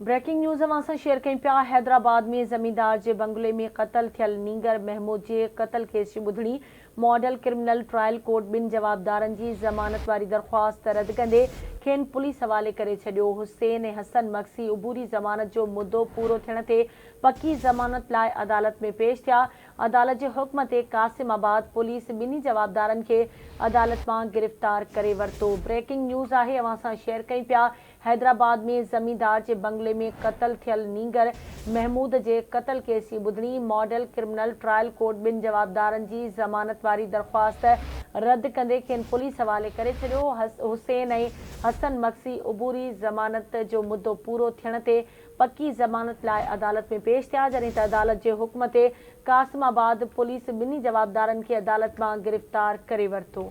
Breaking news اوهان سان share ڪيون پيا حيدرآباد ۾ زميندار جي بنگلي ۾ قتل ٿيل نينگر محمود جي قتل ڪيس جي ٻڌڻي، ماڊل ڪرمنل ٽرائل ڪورٽ ٻن جوابدارن جي ضمانت واري درخواست رد ڪندي کين پوليس حوالي ڪري ڇڏيو، حسين ۽ حسن مگسي عبوري ضمانت جو مدو پورو ٿيڻ تي پڪي ضمانت لاء عدالت ۾ پيش ٿيا، عدالت جي حڪم تي قاسم آباد پوليس ٻنهي جوابدارن کي عدالت مان گرفتار ڪري ورتو بريڪنگ نيوز آهي اوهان سان شيئر ڪيون پيا حيدرآباد ۾ زميندار جي بنگلي ۾ قتل ٿيل نينگر محمود جي قتل ڪيس جي ٻڌڻي، ماڊل ڪرمنل ٽرائل ڪورٽ ٻن جوابدارن جي ضمانت واري درخواست رد ڪندي کين پوليس حوالي ڪري ڇڏيو، حسين ۽ حسن مگسي عبوري ضمانت جو مدو پورو ٿيڻ تي پڪي ضمانت لاء عدالت ۾ پيش ٿيا جڏهن ته عدالت جي حڪم تي قاسم آباد پوليس ٻنهي جوابدارن کي عدالت مان گرفتار ڪري ورتو.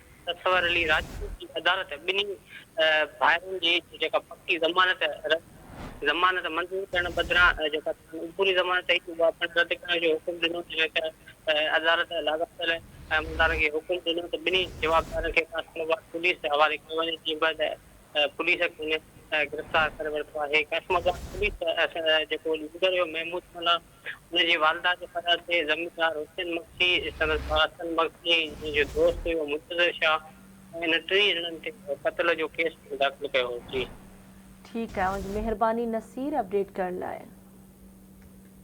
اصغر علي راجپوت جي عدالت ٻنهي ڀائرن جي جيڪا پڪي ضمانت ضمانت منظور ڪرڻ بدران جيڪا سندن عبوري ضمانت هئي اها پڻ رد ڪرڻ جو حڪم ڏنو جڏهن ته عدالت لاڳاپيل عملدارن کي حڪم ڏنو ته ٻنهي جوابدارن کي فيصلو بعد پوليس جي حوالي ڪيو وڃي جيئن به ته پوليس کين گرفتار ڪري ورتو آهي قاسم آباد پوليس جيڪو ليڊر هيو محمود ملاح ان جي والده جي پريان ٿئي زميندار حسين مگسي، سندس ڀاء حسن مگسي، جنهن جو دوست هيو منتظر شاهه ۽ انهن ٽنهي ڄڻن تي قتل جو ڪيس پڻ داخل ڪيو هو. جي. ٺيڪ آهي اوهان جي مهرباني نصير اپڊيٽ ڪرڻ لاء.